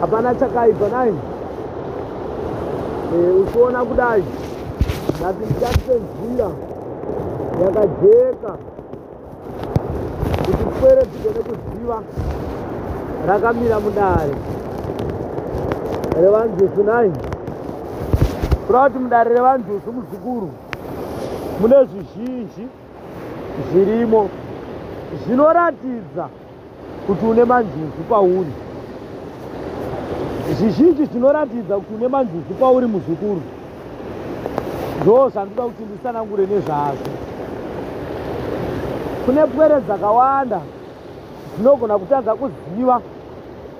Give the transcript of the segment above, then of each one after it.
hapana chakaipa nai e, eh, uchiona kudai ndati ndichatenzira yakajeka kuti pwere dzigone kuziva rakamira mudare revanjusu nai kuda kuti mudare revanjusu muzukuru mune zvizhinji zvirimo zvinoratidza kuti une manjuzu pauri zvizhinji zvinoratidza kuti une manjuzu pauri muzukuru ndoo zvandoda kuti ndisanangure nezvazvo kune pwere dzakawanda dzinogona kutadza kuziva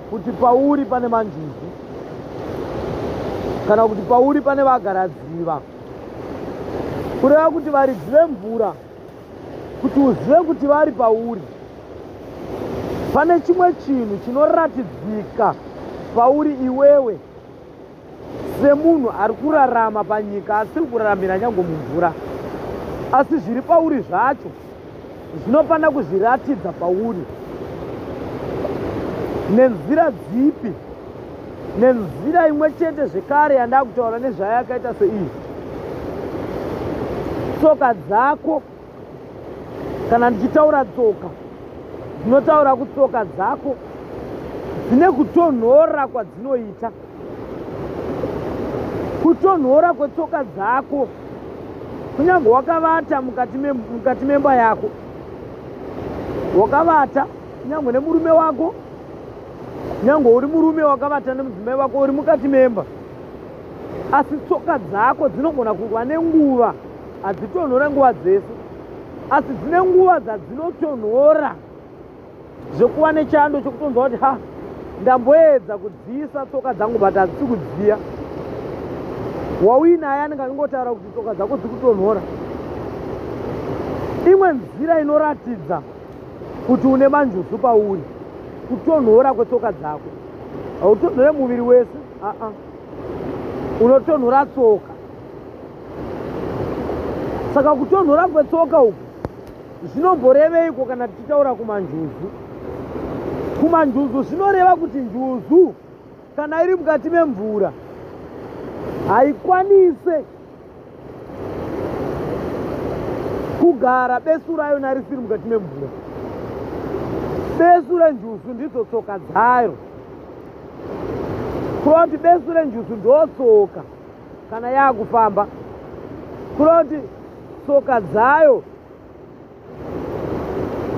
kuti pauri pane manjuzu kana kuti pauri pane vagaradziva kureva kuti varidzi vemvura kuti uzive kuti vari pauri pane chimwe chinhu chinoratidzika pauri iwewe semunhu ari kurarama panyika asiri kuraramira nyange mumvura asi zviri pauri zvacho zvinofanira kuzviratidza pauri nenzira dzipi nenzira imwe chete zvekare yandakutaura nezvayo yakaita seiyi tsoka dzako kana ndichitaura tsoka ndinotaura kutsoka dzako dzine kutonhora kwadzinoita kutonhora kwetsoka dzako kunyange wakavata mukati memba yako wakavata kunyange nemurume wako nyange uri murume wakavata nemudzimai vako uri mukati memba asi tsoka dzako dzinogona kuva nenguva hadzitonhore nguva dzese asi dzine nguva dzadzinotonhora zvekuva nechando chokutonzwa kuti ha ndamboedza kudziisa tsoka dzangu but hadzisi kudziya wauinaye anenge achingotaura kuti tsoka dzako dziri kutonhora imwe nzira inoratidza kuti une manjuzu pauri kutonhora kwetsoka dzako hautonhore muviri wese aa unotonhora tsoka saka kutonhora kwetsoka uku zvinomboreveiko kana tichitaura kumanjuzu kumanjuzu zvinoreva kuti njuzu kana iri mukati memvura haikwanise kugara besu rayo narisiri mukati memvura besu renjusu ndidzo tsoka dzayo kureva kuti besu renjusu ndotsoka kana yaakufamba kureva kuti tsoka dzayo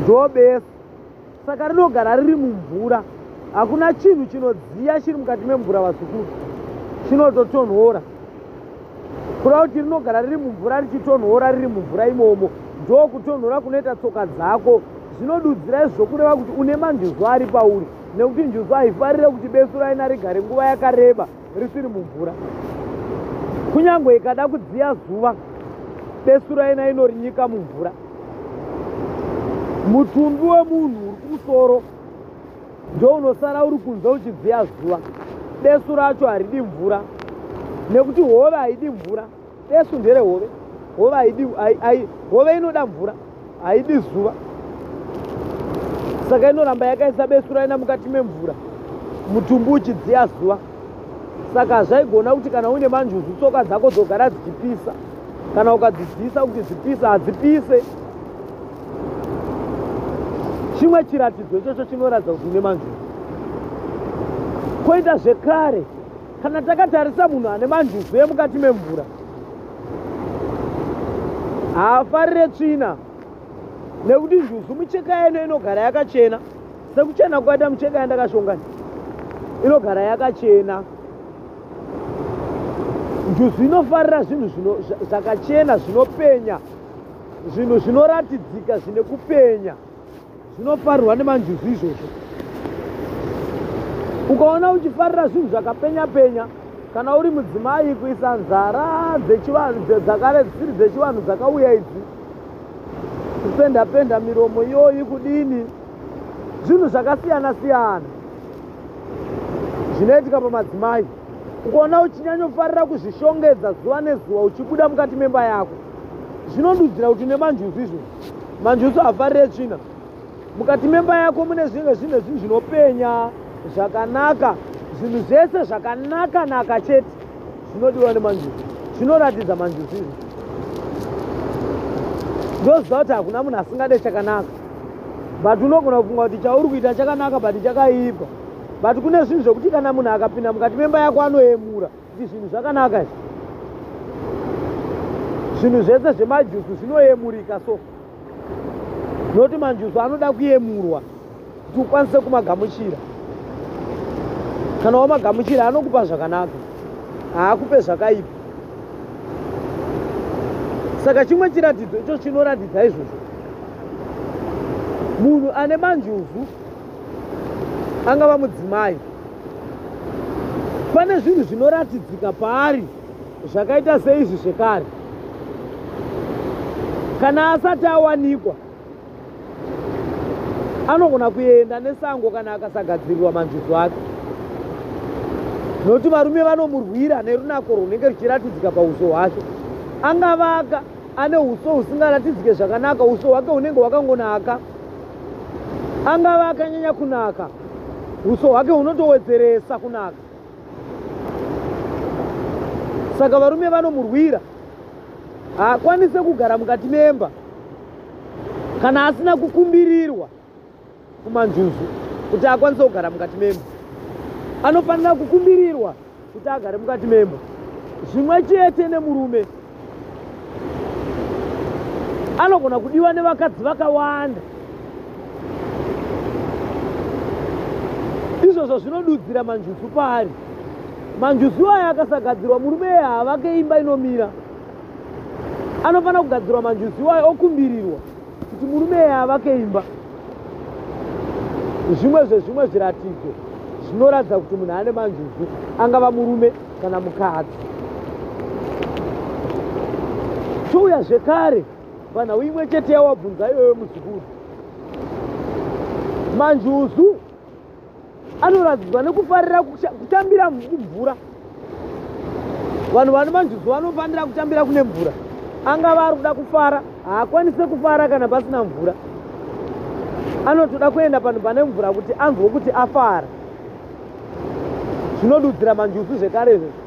ndobesu saka rinogara riri mumvura hakuna chinhu chinodziya chiri mukati memvura vazukuru chinototonhora kuda kuti rinogara riri mumvura richitonhora riri mumvura imomo ndo kutonhora kunoita tsoka dzako zvinodudzira izvo kureva kuti une manjuzu ari pauri nekuti njuzu haifarire kuti besu raina rigare nguva yakareba risiri mumvura kunyange ikada kudziya zuva besu raina inorinyika mumvura mutumbi wemunhu uri kumusoro ndounosara uri kunze uchidziya zuva besu racho haridi mvura nekuti hove haidi mvura Besu ndere hove. Hove haidi hai hove inoda mvura. Haidi zuva. Saka inoramba yakaisa besu raina mukati memvura. Mutumbu uchidziya zuva. Saka zvaigona kuti kana uine manjuzu tsoka dzako dzogara dzichipisa. Kana ukadzidzisa kuti dzipisa hadzipise. Chimwe chiratidzo ichocho chinoratidza kuti une manjuzu. Koita zvekare kana takatarisa munhu ane manjuzu emukati memvura haafarire tsvina nekuti njuzu micheka yeno inogara yakachena sekuchena kwaita micheka yandakashongani inogara yakachena njuzu inofarira zvinhu zvakachena zvinopenya zvinhu zvinoratidzika zvine kupenya zvinofarirwa nemanjuzu izvozvo ukaona uchifarira zvinhu zvakapenya penya kana uri mudzimai kuisa nzara dzakare dzisiri dzechivanhu dzakauya idzi kupenda penda miromo iyoyi kudini zvinhu zvakasiyana siyana zvinoitika pamadzimai ukaona uchinyanyofarira kuzvishongedza zuva nezuva uchibuda mukati memba yako zvinondudzira kuti nemanjuzi izvozvo manje usafarire tsvina mukati memba yako mune zvinge zvine zvinhu zvinopenya zvakanaka zvinhu zvese zvakanaka naka chete zvinodiwa nemanjuzi zvinoratidza manjuzi izvi ndoziva kuti hakuna munhu asingade chakanaka but unogona kufunga kuti chauri kuita chakanaka but chakaipa but kune zvinhu zvekuti kana munhu akapinda mukati memba yako anoyemura Izvi zvinhu zvakanaka izvi. Zvinhu zvese zvemajusu zvinoyemurika so. Noti manjusu anoda kuyemurwa kuti ukwanise kumagamuchira. Kana wamagamuchira anokupa zvakanaka. Haakupe zvakaipa. Saka chimwe chiratidzo icho chinoratidza izvozvo. Munhu ane manjusu angava mudzimai pane zvinhu zvinoratidzika paari zvakaita seizvi zvekare kana asati awanikwa anogona kuenda nesango kana akasagadzirirwa manjuzu ake nokuti varume vanomurwira nerunako rwunenge ruchiratidzika pauso hwake angavaka ane uso husingaratidzike zvakanaka uso hwake hunenge hwakangonaka angave akanyanya kunaka uso hwake hunotowedzeresa kunaka saka varume vanomurwira haakwanise kugara mukati memba kana asina kukumbirirwa kumanjuzu kuti akwanise kugara mukati memba anofanira kukumbirirwa kuti agare mukati memba zvimwe chete nemurume anogona kudiwa nevakadzi vakawanda izvozvo zvinodudzira manjuzu paari manjuzu aya akasagadzirwa murume eye havake imba inomira anofanira kugadzirwa manjuzu aya okumbirirwa kuti murume eye avake imba zvimwe zvezvimwe zviratidzo zvinoratidza kuti munhu ane manjuzu angava murume kana mukadzi touya zvekare panhau imwe chete yawabvunza iyoyo muzukuru manjuzu anoratidzwa nekufarira kutambira mvura vanhu vane manjuzu vanofanira kutambira kune mvura angava ari kuda kufara haakwanise kufara kana pasina mvura anotoda kuenda panhu pane mvura kuti anzwe kuti afara zvinodudzira manjuzu zvekare izvozvo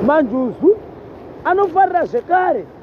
manjuzu anofarira zvekare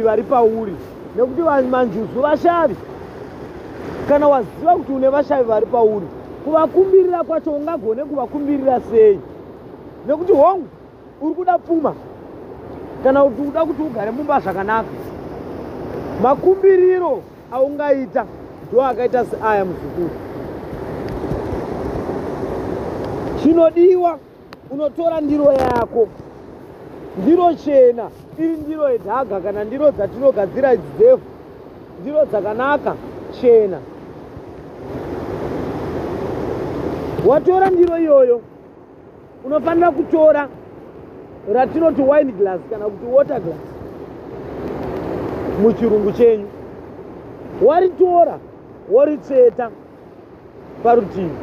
vari pauri nekuti manjuzu vashavi kana waziva kuti une vashavi vari pauri kuvakumbirira kwacho ungagone kuvakumbirira sei nekuti hongu uri kuda pfuma kana kuti uda kuti ugare mumba zvakanaka makumbiriro aungaita ndo akaita seaya muzukuru chinodiwa unotora ndiro yako ndiro chena iri ndiro yedhaga kana ndiro dzatinogadzira idzi dzefu ndiro dzakanaka chena watora ndiro iyoyo unofanira kutora ratinoti wine glass kana kuti water glass muchirungu chenyu waritora woritsveta parutivi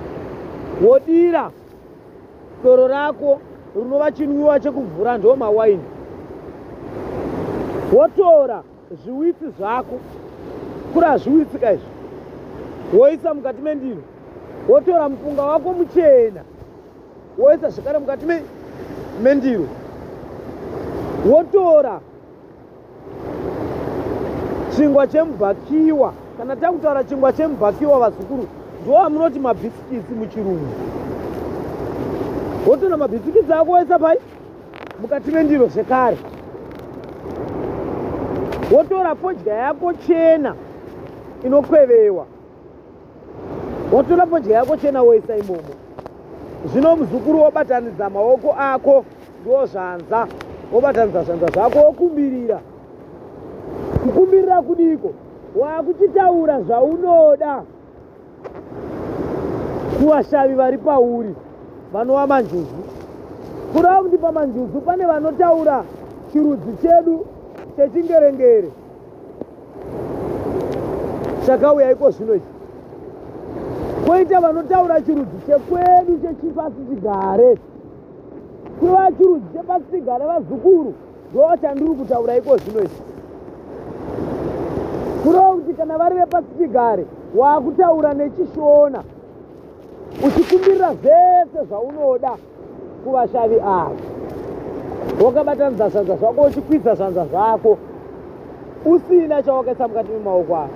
wodira doro rako rinova chinwiwa chekuvhura ndo mawaini wotora zviwitsi zvako kura zviwitsi ka izvi woisa mukati mendiro wotora mupunga wako muchena woisa zvekare mukati mendiro wotora chingwa chemubhakiwa kana takutaura chingwa chemubhakiwa vazukuru ndoamunoti mabhisikisi muchirungu wotona mabhisikisi ako waisa pai mukati mendiro zvekare wotora fodya yako chena inokwevewa watora fodya yako chena woisa imomo zvino muzukuru wobatanidza maoko ako ndiwo zvanza wobatanidza zvanza zvako wokumbirira kukumbirira kudiko wakuchitaura zvaunoda kuvashavi vari pauri vanova manjuzu kurava kuti pamanjuzu pane vanotaura chirudzi chedu chechingerengere chakauya iko zvino ichi kwoita vanotaura chirudzi chekwedu chechipasi chigare kuva chirudzi chepasi chigare vazukuru ndovachandiri kutaura iko zvino ichi kureva kuti kana vari vepasi chigare waakutaura nechishona uchikumbirira zvese zvaunoda kuvashavi ava wakabatanidza zvanza zvako uchikwidza zvanza zvako usina chawakaisa mukati memaoko avo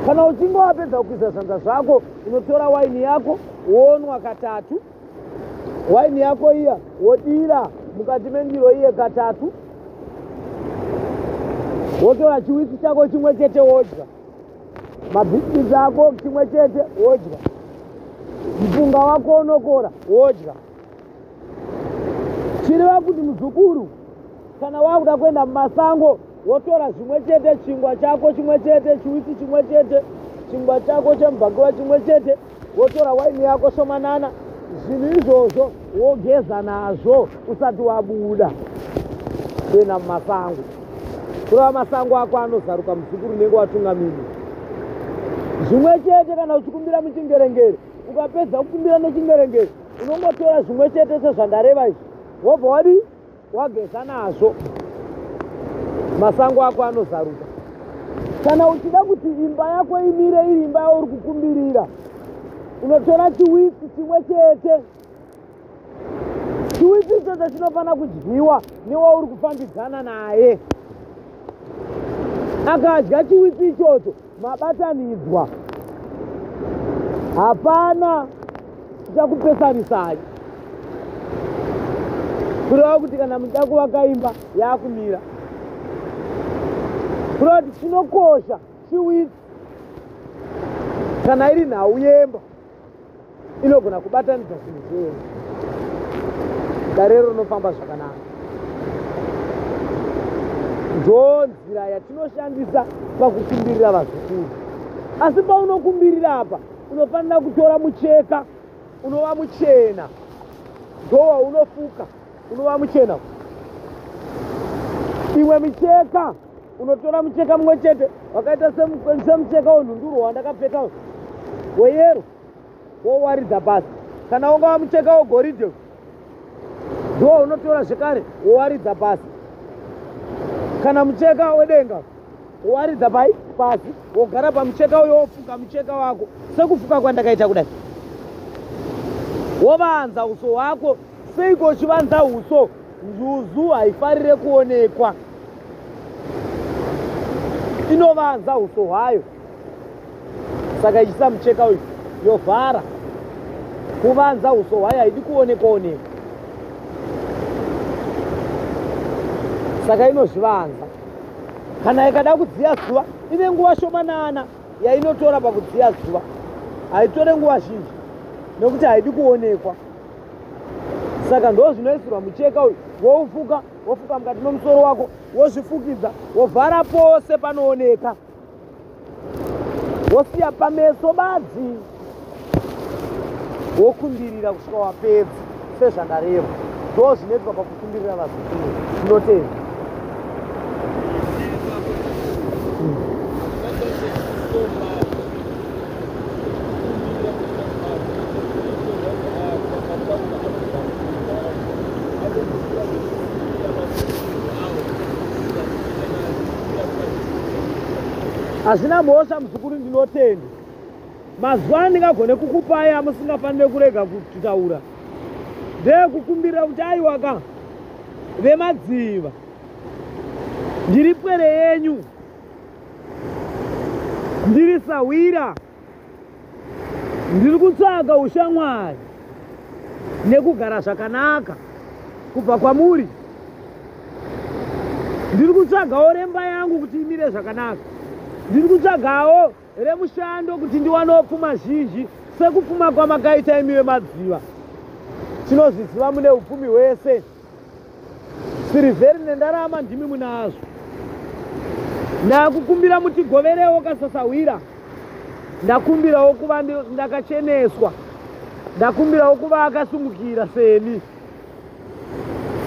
kana uchinge wapedza kukwidza zvanza zvako unotora waini yako wonwa katatu waini yako iya wodira mukati mendiro iye katatu wotora chiwitsi chako chimwe chete wodya mabhisikitsi ako chimwe chete wodya mpunga wako unokora wodya chireva kuti muzukuru kana wakuda kuenda mumasango wotora zvimwe chete chingwa chako chimwe chete chiwiti chimwe chete chingwa chako chemubhakiwa chimwe chete wotora waini yako shomanana zvinhu izvozvo wogeza nazvo usati wabuda kuenda mumasango kureva masango ako anozaruka muzukuru unenge watungamiri zvimwe chete kana uchikumbira muchingerengere ukapedza kukumbira nechingerengere unongotora zvimwe chete sezvandareva izvi wobva wadii wageza nazvo masango ako anozaruka kana uchida kuti imba yako imire iri imba yauri kukumbirira unotora chiwitsi chimwe chete chiwitsi ichocho chinofanira kudyiwa newauri kufambidzana naye akadya chiwitsi ichocho mabatanidzwa hapana tichakupesanisai kureva kuti kana muchida kuvaka imba yaakumira kureva kuti chinokosha chiwitsi kana iri nhau yemba inogona kubatanidza zvinhu zvee darero rinofamba zvakanaka ndo nzira yatinoshandisa pakukumbirira vazukuru asi paunokumbirira apa unofanira kutora mucheka unova muchena ndowa unofuka unova muchena imwe micheka unotora mucheka mumwe chete wakaita semucheka wenhunduro wandakapfeka weyero wowaridza pasi kana ungava mucheka wegoridhe ndiwo unotora zvekare wowaridza pasi kana mucheka wedenga wowaridza pai pasi wogara pamucheka uyo wofuka mucheka wako sekufuka kwandakaita kudai wovanza uso hwako seiko uchivanza uso njuzu haifarire kuonekwa inovanza uso hwayo saka ichisa mucheka uyu yovhara kuvanza uso hwayo haidi kuonekwa onekwa saka inozvivanza kana ikada kudziya zuva ine nguva shomanana yainotora pakudziya zuva haitore nguva zhinji nekuti haidi kuonekwa saka ndo zvinoisirwa mucheka uyu woufuka wofuka mukati memusoro wako wozvifukidza wovhara pose panooneka wosiya pameso badzi wokumbirira kusvika wapedza sezvandareva ndo zvinoitwa kumbirira vazukuru ndotenda hazvina mhosva muzukuru ndinotenda mazuva andingagone kukupai amusingafanire kurega kutaura ndeyekukumbirira kuti aiwaka vemadziva ndiri pwere yenyu ndiri sahwira ndiri kutsvaga ushamwari nekugara zvakanaka kubva kwamuri ndiri kutsvagawo remba yangu kuti imire zvakanaka ndiri kutsvagawo remushando kuti ndiwanewo pfuma zhinji sekupfuma kwamakaita imi vemadziva tinozviziva mune upfumi hwese sirivheri nendarama ndimi munazvo ndakukumbira mutigoverewo kasasahwira ndakumbirawo kuva ndakacheneswa ndakumbirawo kuva akasumukira seni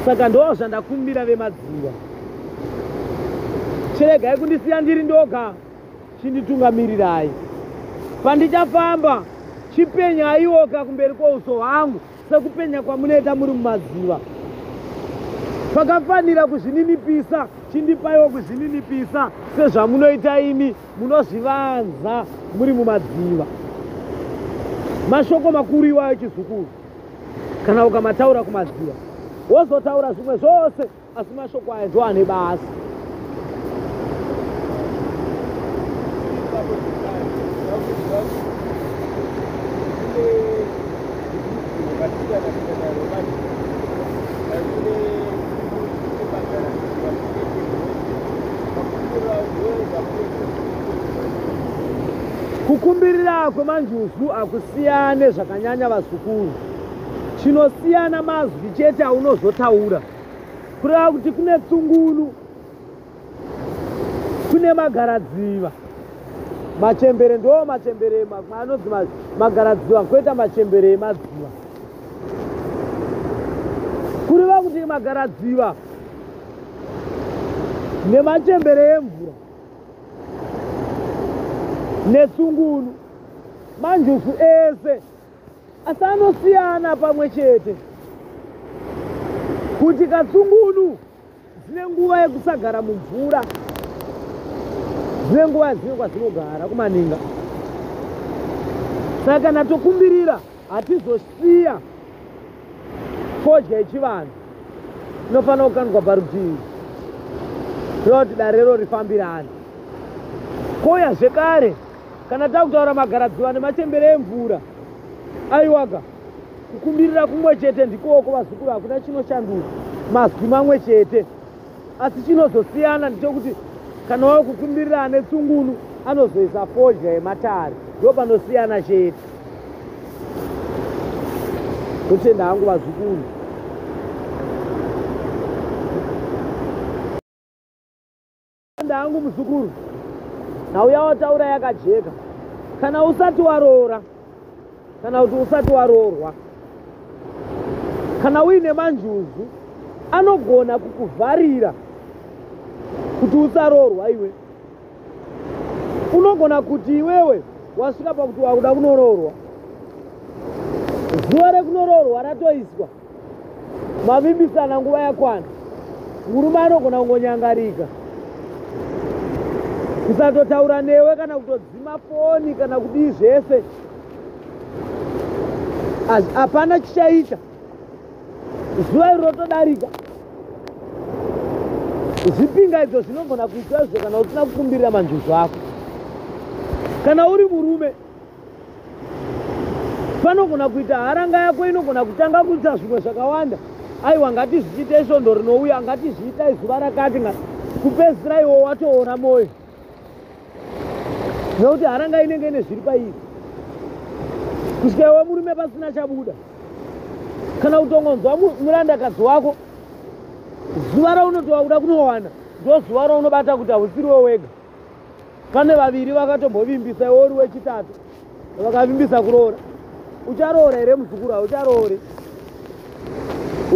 saka ndoo zvandakumbira vemadziva chiregai kundisiya ndiri ndoga chinditungamirirai pandichafamba chipenyaiwoka kumberi kwouso hwangu sekupenya kwamunoita muri mumaziva pakafanira kuzvininipisa chindipaiwo kuzvininipisa sezvamunoita imi munozvivanza muri mumadziva mashoko makuru iwayo chizukuru kana ukamataura kumadziva wozotaura zvimwe zvose asi mashoko aya ndo ane basa kukumbirira kwemanjuzu hakusiyane zvakanyanya vazukuru chinosiyana mazwi chete aunozotaura kureva kuti kune tsungunu kune magaradziva machembere ndo machembere anonzi magaradziva koita machembere emadziva kureva kuti magaradziva nemachembere emvura netsungunu manjusu ese asi anosiyana pamwe chete kuti katsungunu dzine nguva yekusagara mumvura dzine nguva dzine kwadzinogara kumaninga saka kana tokumbirira hatizosiya fodya yechivanhu inofanira kukandwa parutivi kuda kuti darero rifambirane koya zvekare kana takutaura magaradziva nemachembere emvura aiwaga kukumbirira kumwe chete ndikooko vazukuru hakuna chinoshanduka mazwi mamwe chete asi chinozosiyana ndichokuti kana wava kukumbirira ane tsungunu anozoisa fodya yematare ndo panosiyana chete kutenda hangu vazukuru Ndanda hangu muzukuru, nhau yawataura yakajeka. Kana usati waroora kana kuti usati waroorwa, kana uine manjuzu anogona kukuvharira kuti usaroorwa iwe. Unogona kuti iwewe wasvika pakuti wakuda kunoroorwa, zuva rekunoroorwa ratoiswa. mavimbisana nguva yakwana murume anogona kungonyangarika kusatotaura newe kana kutodzima foni kana kudii zvese hapana chichaita zuva iri rotodarika zvipinga idzo zvinogona kuita izvo kana usina kukumbirira manjuzu ako kana uri murume panogona kuita haranga yako inogona kutanga kuita zvimwe zvakawanda aiwa ngatizviite svondo rinouya ngatizviita izuva rakati nga kupedzisira iwo watoona mwoyo nekuti haranga inenge ine zviri pairi kusvika iwe murume pasina chabuda kana kutongonzwa murandakadzi wako zuva raunoti wakuda kunowana ndozuva raunobata kuti hausiri we wega pane vaviri vakatombovimbisa iwe uri wechitatu vakavimbisa kuroora ucharoora here muzukuru haucharoore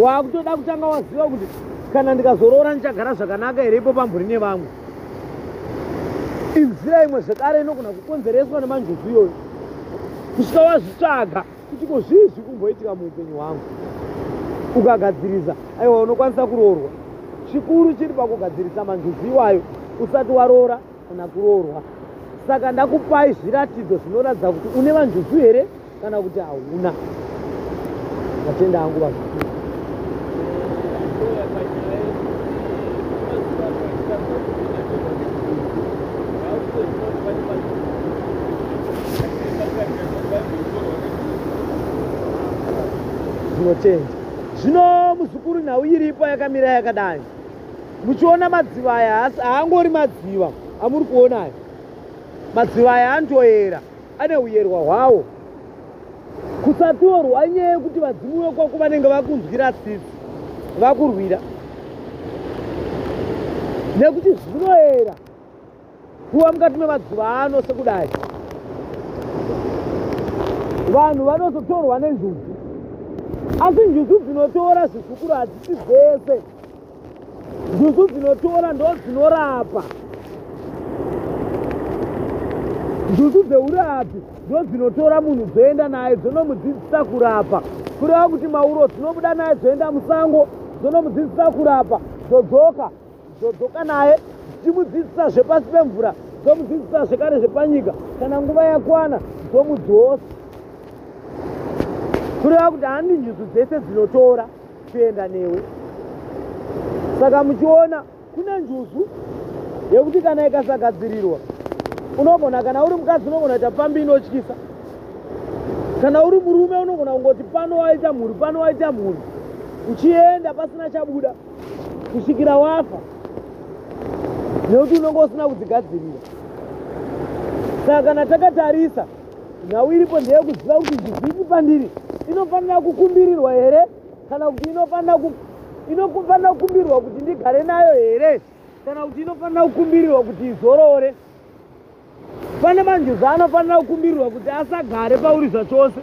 waakutoda kutanga waziva kuti kana ndikazoroora ndichagara zvakanaka here ipo pamburi nevamwe inzira imwe zvekare inogona kukonzereswa nemanjuzu iyoyo kusvika wazvitsvaga kuti ko zvii zviri kumboitika muupenyu hwangu ukagadzirisa aiwa unokwanisa kuroorwa chikuru chiri pakugadzirisa manjuzi iwayo usati waroora kana kuroorwa saka ndakupai zviratidzo zvinoratidza kuti une vanjuzu here kana kuti hauna matenda angu vazukuru zvinochenja zvino muzukuru nhau iripo yakamira yakadai muchiona madziva aya haangori madziva amuri kuona aya madziva aya anotoyera ane uyerwa hwawo kusatorwa inyaya yekuti vadzimu vekwako vanenge vakunzwira tsitsi vakurwira nekuti zvinoera kuva mukati memazuva ano sekudai vanhu vanozotorwa nenjuzu asi njuzu dzinotora zvizukuru hadzisi dzese njuzu dzinotora ndo dzinorapa njuzu dzeurapi ndo dzinotora munhu dzoenda naye dzonomudzidzisa kurapa kureva kuti mauro dzinobuda naye dzoenda musango dzonomudzidzisa kurapa dzodzoka dzodzoka naye dzichimudzidzisa zvepasi pemvura dzomudzidzisa zvekare zvepanyika kana nguva yakwana dzomudzosa kureva kuti handi njuzu dzese dzinotora kuenda newe saka muchiona kune njuzu yekuti kana ikasagadzirirwa unogona kana uri mukadzi unogona kuita pfambi inotyisa kana uri murume unogona kungoti pano waita mhuri pano waita mhuri uchienda pasina chabuda kusvikira wafa nekuti unonge usina kudzigadzirira saka kana takatarisa nhau iripo ndeyekuziva kuti zvivhiki pandiri inofanira kukumbirirwa here kana kuti inofanira kukumbirirwa kuti ndigare nayo here kana kuti inofanira kukumbirirwa kuti izorore pane manjuzi anofanira kukumbirirwa kuti asagare pauri zvachose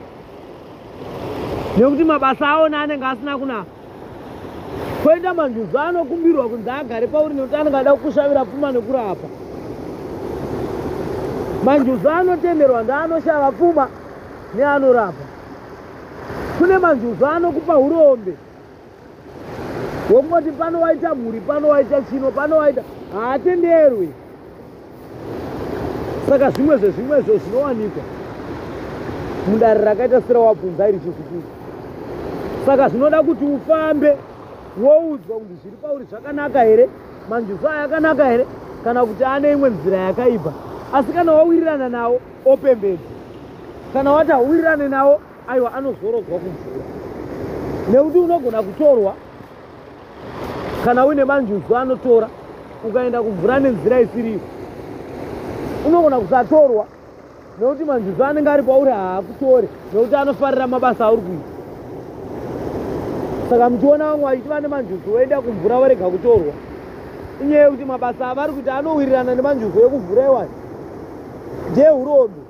nekuti mabasa aona anenge asina kunaka Koita manjuzu anokumbirwa kunzi agare pauri nekuti anenge ada kukushavira pfuma nekurapa. Manjuzu anotemerwa ndeanoshava pfuma neanorapa. Kune manjuzu anokupa urombe wokungoti pano waita mhuri, pano waita chino, pano waita haatenderwi. saka zvimwe zvezvimwezvo zvinowanikwa mudare rakaita serawabvunza iri chizukuru saka zvinoda kuti ufambe woudzwa kuti zviri pauri zvakanaka here manjuzo aya akanaka here kana kuti ane imwe nzira yakaibva asi kana wawirirana nawo opembedza kana wati hauwirirane nawo aiwa anozorodzwa kumvura nekuti unogona kutorwa kana uine manjuzu anotora ukaenda kumvura nenzira isiriyo unogona kusatorwa nekuti manjuzu anenge ari pauri haakutore nekuti anofarira mabasa auri kuita saka muchiona vamwe vachiti vane manjuzu voenda kumvura vorega kutorwa inyaya yekuti mabasa avari kuita anowirirana nemanjuzu ekuvhura iwayo ndehurombe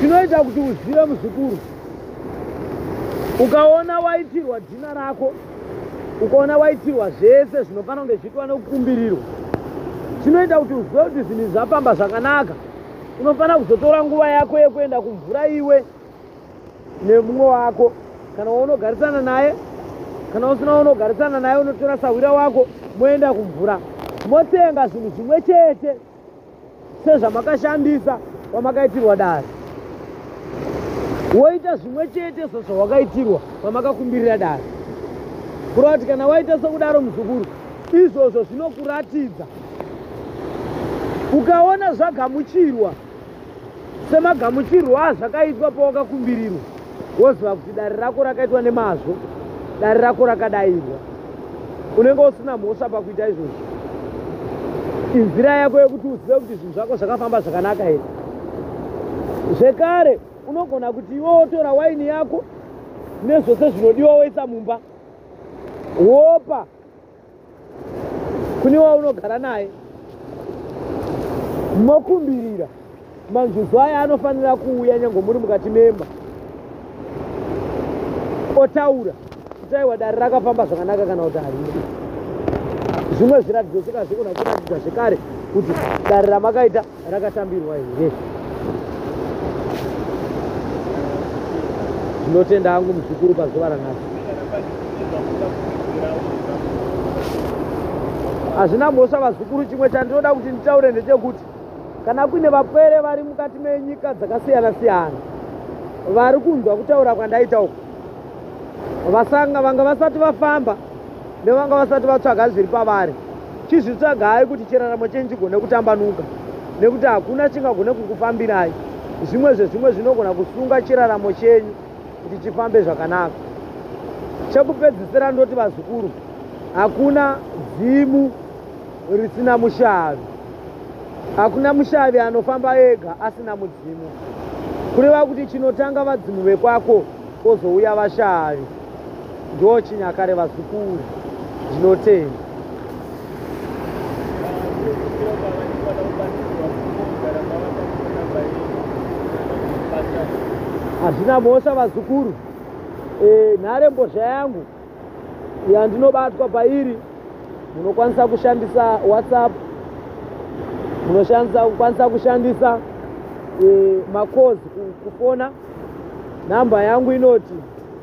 chinoita kuti uzive muzukuru ukaona waitirwa dhina rako ukaona waitirwa zvese zvinofanira kunge zviitwa nekukumbirirwa chinoita kuti uzive kuti zvinhu zvafamba zvakanaka unofanira kuzotora nguva yako yekuenda kumvura iwe nemumwe wako kana waunogarisana naye kana usina waunogarisana naye unotora sahwira wako moenda kumvura motenga zvinhu zvimwe chete sezvamakashandisa kwamakaitirwa dare woita zvimwe chete sezvawakaitirwa kwamakakumbirira dare kureva kuti kana waita sokudaro muzukuru izvozvo zvinokuratidza ukaona zvagamuchirwa Semagamuchirwo azvakaitwa pawakakumbirirwa woziva kuti dare rako rakaitwa nemazvo, dare rako rakadairwa, unenge usina mhosva pakuita izvozvo. Inzira yako yekuti uzive kuti zvinhu zvako zvakafamba zvakanaka here. Zvekare, unogona kuti iwe wotora waini yako nezvose zvinodiwa woisa mumba wopa kune waunogara naye mokumbirira manjuzu aya anofanira kuuya nyange muri mukati memba otaura kutaiwa dare rakafamba zvakanaka kana kuti harina zvimwe zviratidzo sekazvikona kuratidza zvekare kuti dare ramakaita rakatambirwa here ndinotenda hangu muzukuru pazuva ranhasi hazvina mhosva vazukuru chimwe chandinoda kuti nditaure ndechekuti kana kuine vapwere vari mukati menyika dzakasiyana siyana vari kunzwa kutaura kwandaita uku vasanga vanga vasati vafamba nevanga vasati vatsvaga zviri pavari chizvitsvagai kuti chiraramo chenyu chigone kutambanuka nekuti hakuna chingagone kukufambirai zvimwe zvezvimwe zvinogona kusunga chiraramo chenyu kuti chifambe zvakanaka chekupedzisira ndoti vazukuru hakuna dzimu risina mushavi hakuna mushavi anofamba ega asina mudzimu kureva kuti chinotanga vadzimu vekwako kozouya vashavi Ndoo chinyakare vazukuru ndinotenda. Hazvina mhosva vazukuru. E, nhare mbozha yangu yandinobatwa pairi munokwanisa kushandisa WhatsApp munoshandisa kukwanisa kushandisa e, makozi kufona namba yangu inoti